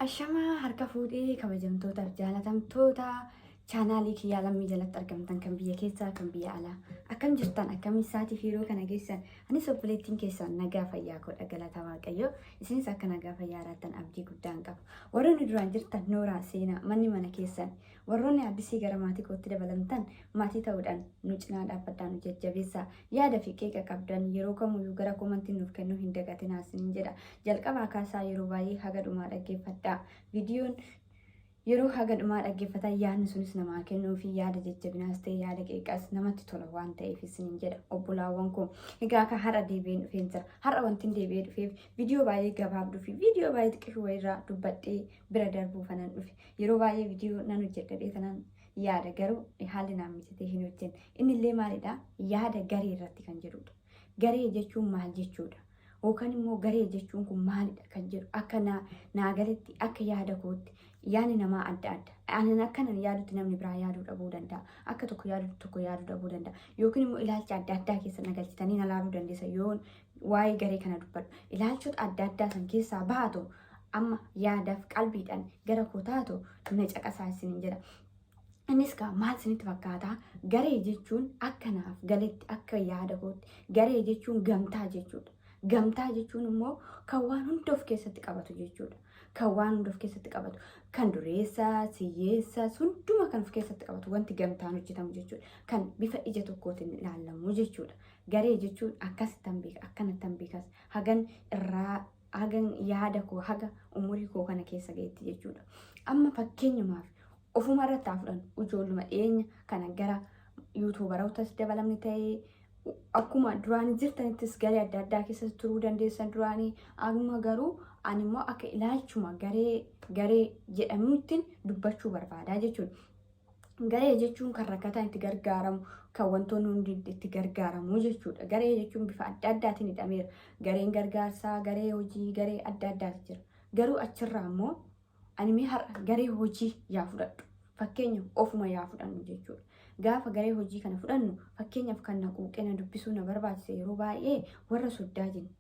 Ashamaa harka fuudhee kabajamtootaaf jaalatamtoota chaanaalii kiyyaa lammii jalatti argamtan kan biyya keessaa kan biyya alaa akkam jirtan akkam isaatii fi yeroo kana geessan Anis obboleettiin keessaan nagaa fayyaa koodha galata waaqayyoo. Isinis akka nagaa fayyaa jiraattan abdii guddaan qaba. Warroonni duraan jirtan nooraa seenaa manni mana keessan warroonni addisii gara maatii kootti dabalamtan maatii ta'uudhaan nu cinaa dhaabbadhaa nu jajjabeessaa. Yaada fi qeeqa qabdan yeroo kamuyyuu gara komantiin nuuf kennuu hin dagatinaa isiniin jedha. Jalqabaa kaasaa yeroo baay'ee haga dhumaa dhaggeeffadhaa. Viidiyoon Yeroo haga dhumaa dhaggeeffatan yaadni sunis namaa kennuu fi yaada jajjabinaas ta'e yaada qeeqas namatti tola waan ta'eef isiniin jedha obbolaawwan koo. Egaa akka har'a deebi'een dhufeen jira. Har'a wantin deebi'ee dhufeef viidiyoo baay'ee gabaabduu fi viidiyoo baay'ee xiqqishu wayirraa dubbadhee bira darbuu fanan dhufe. Yeroo baay'ee viidiyoo nan hojjedhadhee tanan yaada garuu haalli naan mijatee hin hojjenne. Inni illee maalidha? Yaada garee irratti kan jedhudha. Garee jechuun maal jechuudha? Yookaan immoo garee jechuun kun maalidha kan jedhu akka naa naa galetti akka yaada kootti yaadni namaa adda adda. Anan akkanan yaadutti namni biraa yaaduu dhabuu danda'a. Akka tokko yaadutti tokko yaaduu dhabuu danda'a. Yookiin immoo ilaalcha adda addaa keessa na galchitanii na laaluu dandeessa yoon waa'ee garee kana dubbadhu. Ilaalchota adda addaa san keessaa baatu amma yaadaaf qalbiidhaan gara koo taatu na caqasaa isiniin jedha. Innis kaa maal isinitti fakkaata? Garee jechuun akka naaf galetti akka yaada kootti garee jechuun gamtaa jechuudha. Gamtaa jechuun immoo kan waan hunda of keessatti qabatu jechuudha. Kan waan hunda of keessatti qabatu kan dureessa, siyyeessa, hunduma kan of keessatti qabatu wanti gamtaan hojjetamu jechuudha. Kan bifa ija tokkootiin ilaalamu jechuudha. Garee jechuun akkasittan beeka akkanattan beekas hagan irraa hagan yaada koo haga umurii koo kana keessa ga'etti jechuudha. Amma fakkeenyumaaf ofuma irratti haa fudhannu ijoolluma dhiyeenya kana gara yuutuubarootas dabalamni ta'ee akkuma duraan jirtanittis garee adda addaa keessa turuu dandeessan duraanii amma garuu ani immoo akka ilaalchuma garee garee jedhamuuttiin dubbachuu barbaadaa jechuudha. Garee jechuun kan rakkataan itti gargaaramu, kan wantoonni hundi itti gargaaramu jechuudha. Garee jechuun bifa adda addaatiin hidhameera. Gareen gargaarsaa, garee hojii, garee adda addaatu jira. Garuu achirraa immoo ani mee har'a garee hojii yaa fudhadhu. Fakkeenyaaf ofuma yaa fudhannu jechuudha. Gaafa garee hojii kana fudhannu fakkeenyaaf kan na quuqee na dubbisuu na barbaachise yeroo baay'ee warra soddaa jenna.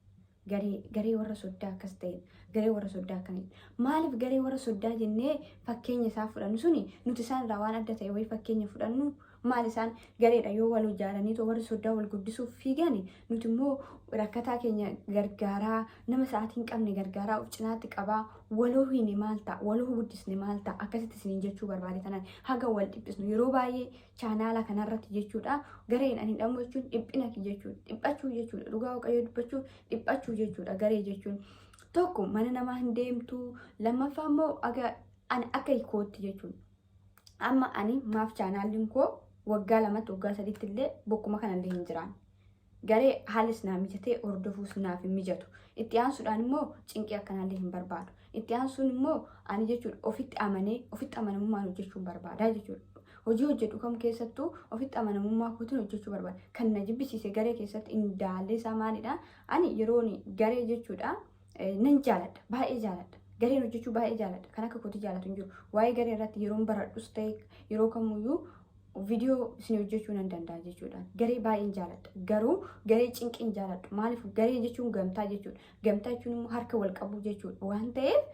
Garee, garee warra soddaa akkas ta'e, garee warra soddaa akkamii. Maaliif garee warra soddaa jennee fakkeenya isaa fudhannu suni nuti isaan irraa waan adda ta'e wayii fakkeenya fudhannu maal isaan gareedha yoo wal ijaaranii too warri soddaa wal guddisuuf fiigani nuti immoo rakkataa keenya gargaaraa nama sa'aatii hin qabne gargaaraa of cinaatti qabaa waloo hiine maal ta'a waloo guddisne maal ta'a akkasitti isiniin jechuu barbaade tanan haga wal dhiphisnu yeroo baay'ee chaanaala kanarratti jechuudha. Gareen ani hidhamu jechuun dhiphina jechuudha. Dhiphachuu jechuudha. Dhugaa waaqayyoo dubbachuu dhiphachuu jechuudha. Garee jechuun tokko mana namaa hin deemtu. Lammaffaa immoo aga ani akka hiikootti jechuudha. Amma ani maaf chaanaalliin koo waggaa lamatti waggaa sadiitti illee bokkuma kanallee hin jiraan. Garee haalis naa mijatee hordofuus naaf hin mijatu. Itti aansuudhaan immoo cinqii akkanaallee hin barbaadu. Itti aansuun immoo ani jechuudha ofitti amanee ofitti amanamummaan hojjechuun barbaadaa jechuudha. Hojii hojjedhu kam keessattuu ofitti amanamummaa kootiin hojjechuu barbaada. Kan na jibbisiise garee keessatti indaallee isaa maalidha? Ani yeroon garee jechuudha nan jaaladha. Baay'ee jaaladha. Gareen hojjechuu baay'ee jaaladha. Kan akka kootii jaalatu hin jiru. Waa'ee garee irratti yeroon baradhus ta'e yeroo kamuyyuu viidiyoo isin hojjechuu nan danda'a jechuudhaan garee baay'een jaaladha garuu garee cinqiin jaaladhu maaliif garee jechuun gamtaa jechuudha gamtaa jechuun immoo harka wal qabuu jechuudha waan ta'eef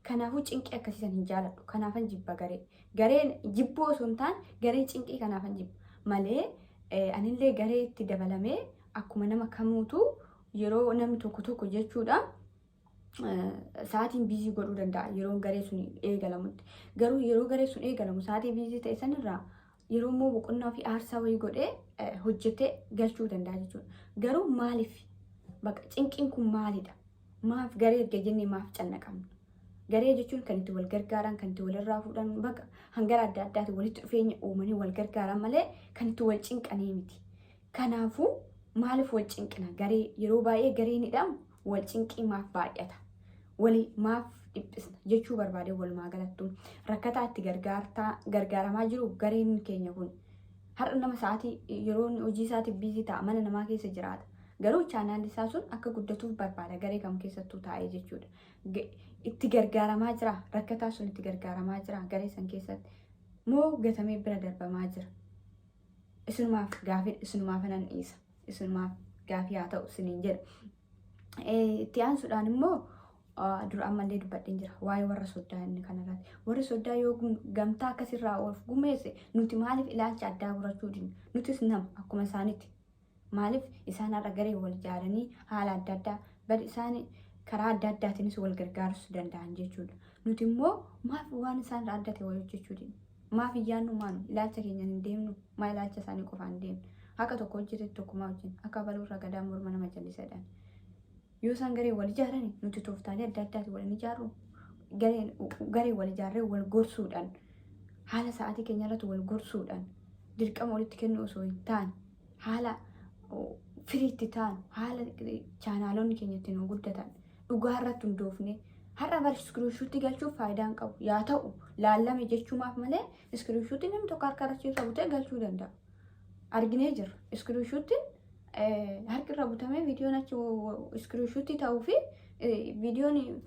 kanaafuu cinqii akkasiisan hin jaaladhu kanaafan jibba garee gareen jibbuu osoo hin taane garee cinqii kanaafan jibba malee eh, anillee garee itti dabalamee akkuma nama kamuutu yeroo namni tokko tokko jechuudha sa'aatiin biizii godhuu danda'a yeroo garee sun eegalamutti. Garuu yeroo garee sun eegalamu sa'aatii biizii ta'e sanirraa yeroo immoo boqonnaa fi aarsaa wayii godhee hojjetee galchuu danda'a jechuudha. Garuu maaliif baqa cinqiin kun maalidha? Maaf garee erga jennee maaf cannaqamna? Garee jechuun kan itti wal gargaaran, kan itti walirraa fuudhan baqa hangara adda addaatiin walitti dhufeenya uumanii wal gargaaran malee kan itti wal cinqanii miti. Kanaafuu maaliif wal cinqina? Garee yeroo baay'ee gareen hidhamu wal cinqii maaf baay'ata? Wali maaf dhiphisna? Jechuu barbaadee walumaa galattu rakkataa itti gargaartaa gargaaramaa jiru gareen keenya kun. Har'a nama sa'aatii yeroo inni hojii isaatiif biizii ta'a mana namaa keessa jiraata. Garuu chaanaalli isaa sun akka guddatuuf barbaada garee kam keessattuu taa'ee jechuudha. Ga- Itti gargaaramaa jira rakkataa sun itti gargaaramaa jira garee san keessatti moo gatamee bira darbamaa jira. isunumaaf gaafii isunumaaf nan dhiisa isunumaaf gaafii haa ta'u isiniin jedha. Itti aansuudhaan immoo dura ammallee dubbadheen jira waa'ee warra soddaa inni kanarratti warri soddaa yoo gamtaa akkasirraa of gumeesse nuti maaliif ilaalcha addaa godhachuu dinna nutis nama akkuma isaanitti Maaliif isaan har'a garee wal ijaaranii haala adda addaa bal isaan karaa adda addaatiinis wal gargaarus danda'an jechuudha. Nuti immoo maaf waan isaan irraa adda ta'e wal hojjechuu didna? Maaf hin yaadnu maanu ilaalcha keenyaan hin deemnu maa ilaalcha isaanii qofaan deemna? Akka tokko hojjetetti tokkumaa hojjenna akka abaluu irraa gadaan morma nama jallisadhaan. Yoo isaan garee wal ijaaran nuti tooftaalee adda addaati wal hin ijaarru. Gareen garee wal ijaarree wal gorsuudhaan haala sa'aatii keenya irratti wal gorsuudhaan dirqama walitti kennuu osoo hin taane haala oh, firiitti taanu haala eh, chaanaalonni keenya ittiin nu guddatan dhugaa irratti hundoofne har'a bar iskiriishuutti galchuuf faayidaa hin qabu. Yaa ta'u laallame jechuumaaf malee iskiriishuutti namni tokko harka irratti yoo ta'u ta'e galchuu danda'a. arginee jirra. Iskiriishuuttiin harki irra butamee viidiyoon achi iskiriishuuttii ta'uu fi viidiyoon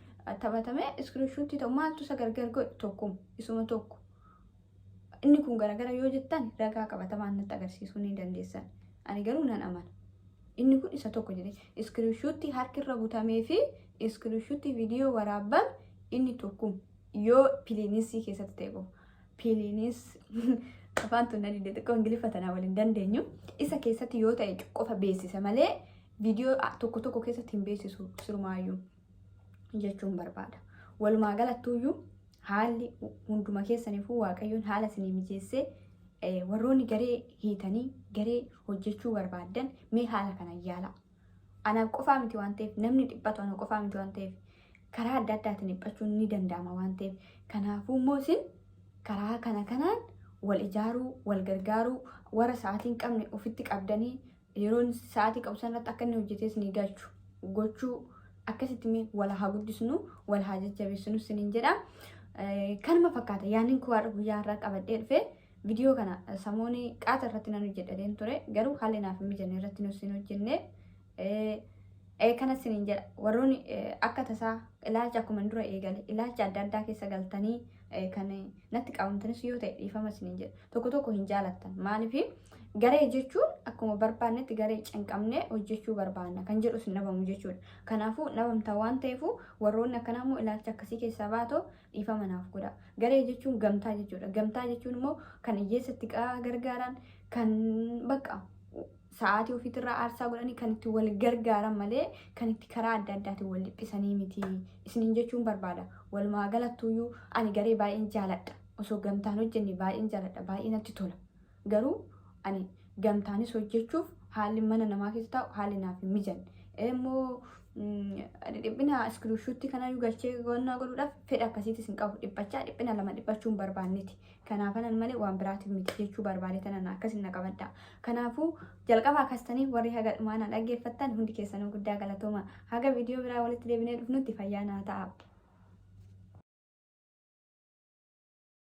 taphatamee iskiriishuuttii ta'u maaltu isa gargar godhe tokkum isuma tokko. Inni kun garagara yoo jettan ragaa qabatamaan natti agarsiisuu ni dandeessan. Ani garuu nan amana. Inni kun isa tokko jedhee iskiriishuuttii harki irra butamee fi iskiriishuuttii viidiyoo waraabban inni tokkum yoo piliinisii keessatti ta'e qofa. Piliinis afaan tun na dide xiqqoo ingiliffa tanaa waliin dandeenyu isa keessatti yoo ta'e qofa beeksisa malee viidiyoo a- tokko tokko keessatti hin beeksisu sirumaayyuu jechuun barbaada. Walumaa galattuuyyuu haalli hunduma keessaniifuu waaqayyoon haala isinii mijeessee eh, warroonni garee hiitanii garee hojjechuu barbaaddan mee haala kana yaalaa. Anaaf qofaa miti waan ta'eef namni dhiphatu ana qofaa miti waan ta'eef karaa adda addaatiin dhiphachuun ni danda'ama waan ta'eef kanaafuu immoo isin karaa kana kanaan wal ijaaruu wal gargaaruu warra sa'aatii hin qabne ofitti qabdanii yeroon sa'aatii qabu sanarratti akka inni hojjetee isinii galchu gochuu akkasitti mee wal haa guddisnu wal haa jajjabeessinu isiniin jedha. Eh, Kanuma fakkaata yaanni koo har'a guyyaa har'aa qabadhee dhufe. Vidiyoo kana samooni qaata irratti nan hojjedhateen ture garuu haalli naaf hin mijanne irratti nus hin hojjenne. Kana sinin jedha warroonni akka tasaa ilaalcha akkuma dura eegale ilaalcha adda addaa keessa galtanii kan natti qabamtanis yoo ta'e dhiifama sinin jedha tokko tokko hin jaalattan maaliif garee jechuun akkuma barbaannetti garee cinqamnee hojjechuu barbaanna kan jedhus hin dhabamu jechuudha. Kanaafuu dhabamtaa waan ta'eef warroonni akkanaa immoo ilaalcha akkasii keessaa baatoo Dhiifama naaf godhaa. Garee jechuun gamtaa jechuudha. Gamtaa jechuun immoo kan hiyyeessa itti qa- gargaaran, kan bakka sa'aatii ofiitirraa aarsaa godhanii kan itti wal gargaaran malee kan itti karaa adda addaatiin wal dhiphisanii miti. Isiniin jechuun barbaada. Walumaa galattuyyuu ani garee baay'een jaaladha. Osoo gamtaan hojjenne baay'een jaaladha. Baay'ee natti tola. Garuu ani gamtaanis hojjechuuf haalli mana namaa keessa taa'u haalli naaf hin mijanne. Immoo dhiphina iskiriipshuutti kanaayyuu galchee qonnaa godhuudhaaf fedha akkasiitis hin qabu. Dhiphachaa dhiphina lama dhiphachuu hin barbaanneti. Kanaafanan malee waan biraatiif miti jechuu barbaade tanan akkas hin qabadha. Kanaafuu jalqaba akkas tanii warri haga dhumaa na dhaggeeffattan hundi keessanuu guddaa galatooma. Haga viidiyoo biraa walitti deebinee dhufnutti fayyaa naa ta'a.